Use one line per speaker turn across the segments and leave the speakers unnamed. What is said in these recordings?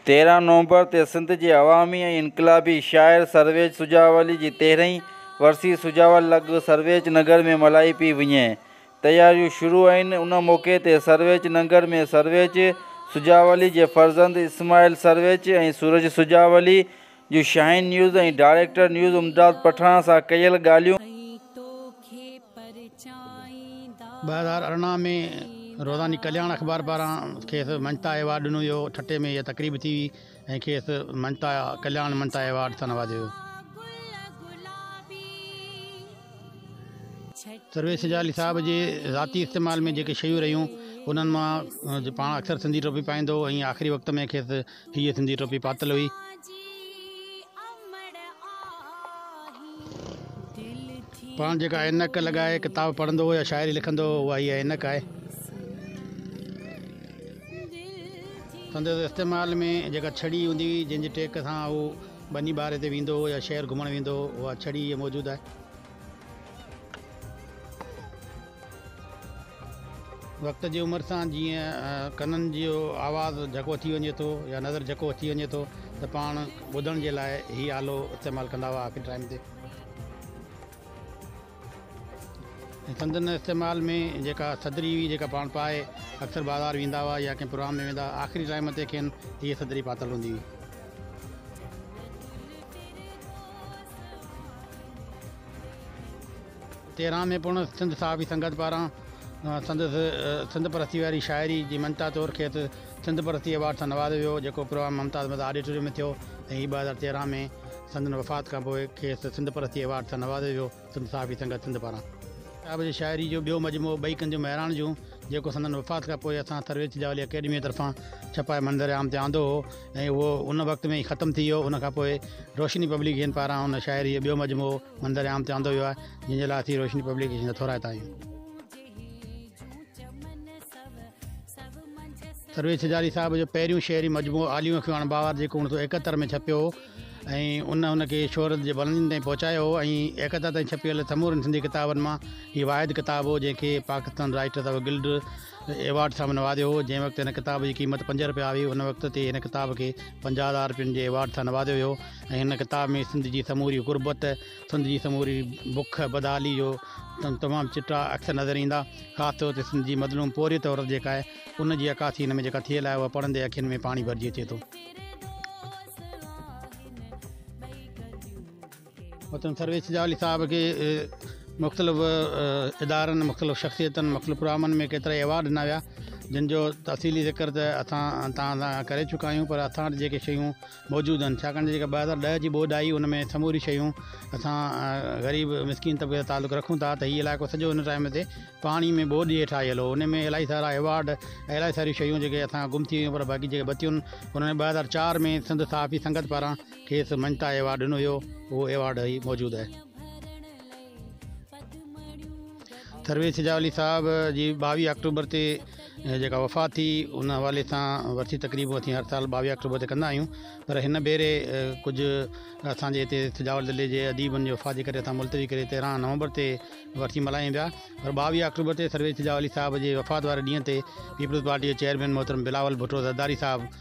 تيرهن نومبر تي سنڌ جي عوامي ۽ انقلابي شاعر سرويچ سجاولي جي تيرهين ورسي سجاول لڳ سرويچ ننگر ۾ ملهائي پئي وڃي. تياريون شروع آهن. ان موقعي تي سرويچ ننگر ۾ سرويچ سجاولي جي فرزند اسماعيل سرويچ ۽ سورج سجاولي جو Shaheen News ۽ director news Imdad Pathan سان ڪيل ڳالهيون.
ٻه هزار ارڙهن ۾ روزاني ڪلياڻ اخبار پاران کيس مڃتا ايوارڊ ڏنو ويو هو، ٺٽي ۾ اها تقريب ٿي هئي ۽ کيس مڃتا ڪلياڻ مڃتا ايوارڊ سان نوازيو ويو. سرويچ سجالي صاحب جي ذاتي استعمال ۾ جيڪي شيون رهيون انهن مان پاڻ اڪثر سنڌي ٽوپي پائيندو هو ۽ آخري وقت ۾ کيس هيء سنڌي ٽوپي پاتل هئي. پاڻ جيڪا عينڪ لڳائي ڪتاب پڙهندو هو يا شاعري لکندو هو، اها هيء عينڪ آهي. سندس استعمال ۾ جيڪا ڇڙي هوندي هئي، جنهن جي ٽيڪ سان هو ٻني ٻاري تي ويندو هو يا شهر گهمڻ ويندو هو، اها ڇڙي هيء موجود آهي. وقت جي عمر سان جيئن ڪنن جو آواز جهڪو ٿي وڃي ٿو يا نظر جهڪو ٿي وڃي ٿو ته پاڻ ٻڌڻ جي لاء هي آلو استعمال ڪندا هئا آخري ٽائيم تي سندن استعمال ۾ جيڪا صدري هئي جيڪا پاڻ پائي اڪثر بازار ويندا هئا يا ڪنهن پروگرام ۾ ويندا آخري ٽائيم تي کين هيء صدري پاتل هوندي هئي تهران ۾ پڻ سنڌ صحافي سنگت پاران سندس سنڌ پرستيء واري شاعري جي مڃتا طور کيس سنڌ پرستي ايوارڊ سان نوازيو ويو، جيڪو پروگرام ممتاز مزار آڊيٽوريم ۾ ٿيو ۽ هي ٻه هزار تيرهن ۾ سندن وفات کانپوء کيس سنڌ پرستي ايوارڊ سان نوازيو ويو. سنڌ صحافي سنگت سنڌ پاران صاحب جي شاعري جو ٻيو مجموعو ٻئي ڪن جون مهراڻ جون جيڪو سندن وفات کان پوء اسان ٿرويچ جوالي اڪيڊميء طرفان ڇپائي منظر عام تي آندو هو ۽ اهو ان وقت ۾ ئي ختم ٿي ويو ان کان پوء روشني پبليڪيشن پاران ان شاعري جو ٻيو مجموعو منظر عام تي آندو ويو آهي جنهن جي لاء اسين روشني پبليڪيشن جا ٿورائتا آهيون. سرويچ سجاري صاحب جو پهريون شعري مجموعو عاليون اکيون اڻ باوار جيڪو اوڻ سو ايڪهتر ۾ ڇپيو هو ۽ ان ان کي شهرت جي بلندين تائين پهچايو هو ۽ ايڪهتر تائين ڇپيل سمورن سنڌي ڪتابن مان هي واحد ڪتاب هو جنهن کي Pakistan Writers of Guild Award سان نوازيو هو جنهن وقت هن ڪتاب جي قيمت پنج رپيا هئي ان وقت تي هن ڪتاب کي پنجاهه هزار رپين جي ايوارڊ سان نوازيو ويو ۽ هن ڪتاب ۾ سنڌ جي سموري غربت سنڌ جي سموري بک بدحالي جو تمام چٽا عڪس نظر ايندا خاص طور تي سنڌ جي مظلوم پورهيت عورت جيڪا آهي ان جي عڪاسي هن ۾ جيڪا ٿيل آهي اها پڙهندي اکين ۾ پاڻي ڀرجي اچي ٿو. وطن سرويچ جالي صاحب کي مختلف ادارن مختلف شخصيتن مختلف پروگرامن ۾ ڪيترا ئي ايوارڊ ڏنا ويا جن جو تفصيلي ذڪر ته اسان تان ڪري چڪا آهيون پر اسان وٽ جيڪي شيون موجود آهن ڇاڪاڻ ته جيڪا ٻه هزار ڏهه جي ٻوڏ آئي ان ۾ سموريون شيون اسان غريب مسڪين طبقي سان تعلق رکون ٿا ته هي علائقو سڄو ان ٽائيم تي پاڻي ۾ ٻوڏ جي هيٺ آيل هو ان ۾ الائي سارا ايوارڊ ۽ الائي ساريون شيون جيڪي اسان گم ٿي ويون پر باقي جيڪي بتيون انهن ۾ ٻه هزار چار ۾ سنڌ صحافي سنگت پاران کيس مڃتا ايوارڊ ڏنو ويو اهو ايوارڊ هي موجود آهي. درويش شجاع علي صاحب جي ٻاويهه آڪٽوبر تي جيڪا وفات ٿي ان حوالي سان ورسي تقريب اسين هر سال ٻاويهه آڪٽوبر تي ڪندا آهيون پر هن ڀيري ڪجهه اسانجي هتي سجاول ضلعي جي اديبن جي وفات جي ڪري اسان ملتوي ڪري تيرهن نومبر تي ورسي ملهايون پيا پر ٻاويهه آڪٽوبر تي سرويش شجاع علي صاحب جي وفات واري ڏينهن تي پيپلز پارٽي جي چيئرمين محترم بلاول ڀٽو زرداري صاحب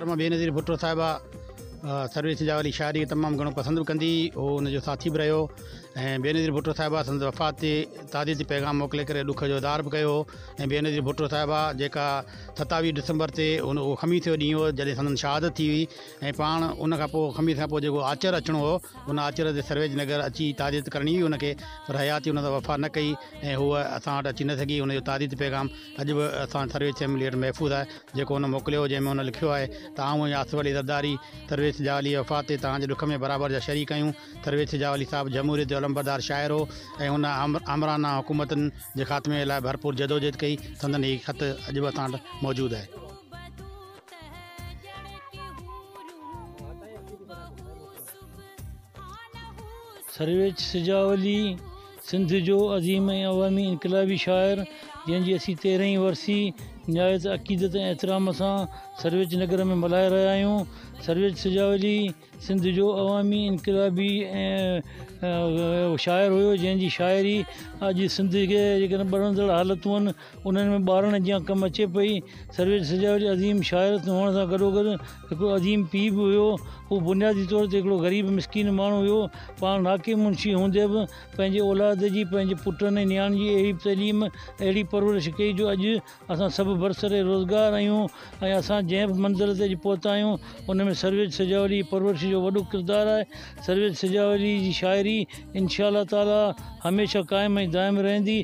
محترمه بينظير ڀٽو صاحبه سروي سجاء واري شاعري تمام گھڻو پسند به ڪندي هئي هو ان جو ساٿي به رهيو ۽ بينظير ڀٽو صاحبه سندس وفات تي تعزيت جي پيغام موڪلي ڪري ڏک جو اظهار به ڪيو هو ۽ بينظير ڀٽو صاحبه جيڪا ستاويهه ڊسمبر تي ان اهو خميس جو ڏينهن هو جڏهن سندن شهادت ٿي هئي ۽ پاڻ ان کان پوء خميس کان پوء جيڪو آچر اچڻو هو ان آچر تي سرويج نگر اچي تعزيت ڪرڻي هئي ان کي پر حياتي ان سان وفا نه ڪئي ۽ هوء اسان وٽ اچي نه سگھي ان جو تعزيت پيغام اڄ به اسان سرويچ چيمبر ليٽر محفوظ آهي جيڪو هن موڪليو هو جنهن ۾ هن لکيو آهي ته آئون ۽ آصف علي زرداري سرويچ جاولي جي وفات تي توهان جي ڏک ۾ برابر جا شريڪ آهيون سرويچ جاولي صاحب جمهوريت جو علمبردار شاعر هو ۽ هن آمرانه حڪومتن جي خاتمي لاء ڀرپور جدوجهد ڪئي سندن هي خط اڄ به اسان وٽ موجود آهي.
سرويچ سجاولي سنڌ جو عظيم ۽ عوامي انقلابي شاعر جنهن جي اسين تيرهين ورسي نهايت عقيدت ۽ احترام سان سرويچ نگر ۾ ملهائي رهيا آهيون سرويچ سجاولي سنڌ جو عوامي انقلابي شاعر هيو جنهن جي شاعري اڄ سنڌ کي جيڪڏهن ٻرندڙ حالتون انهن ۾ ٻارڙن جيان ڪم اچي پئي. سرويچ سجاويچ عظيم شاعر هئڻ سان گڏوگڏ هڪڙو عظيم پيء به هيو. هو بنيادي طور تي هڪڙو غريب مسڪين ماڻهو هيو. پاڻ ناڪي منشي هوندي به پنهنجي اولاد جي، پنهنجي پٽن ۽ نياڻين جي اهڙي تعليم، اهڙي پرورش ڪئي جو اڄ اسان سڀ برسر روزگار آهيون ۽ اسان جنهن به منزل تي اڄ پهتا آهيون ان ۾ سرويچ سجاوليء جي پرورش جو وڏو ڪردار آهي. سرويچ سجاوليء جي شاعري انشاء الله تعاليٰ هميشه قائم ۽ دائم رهندي.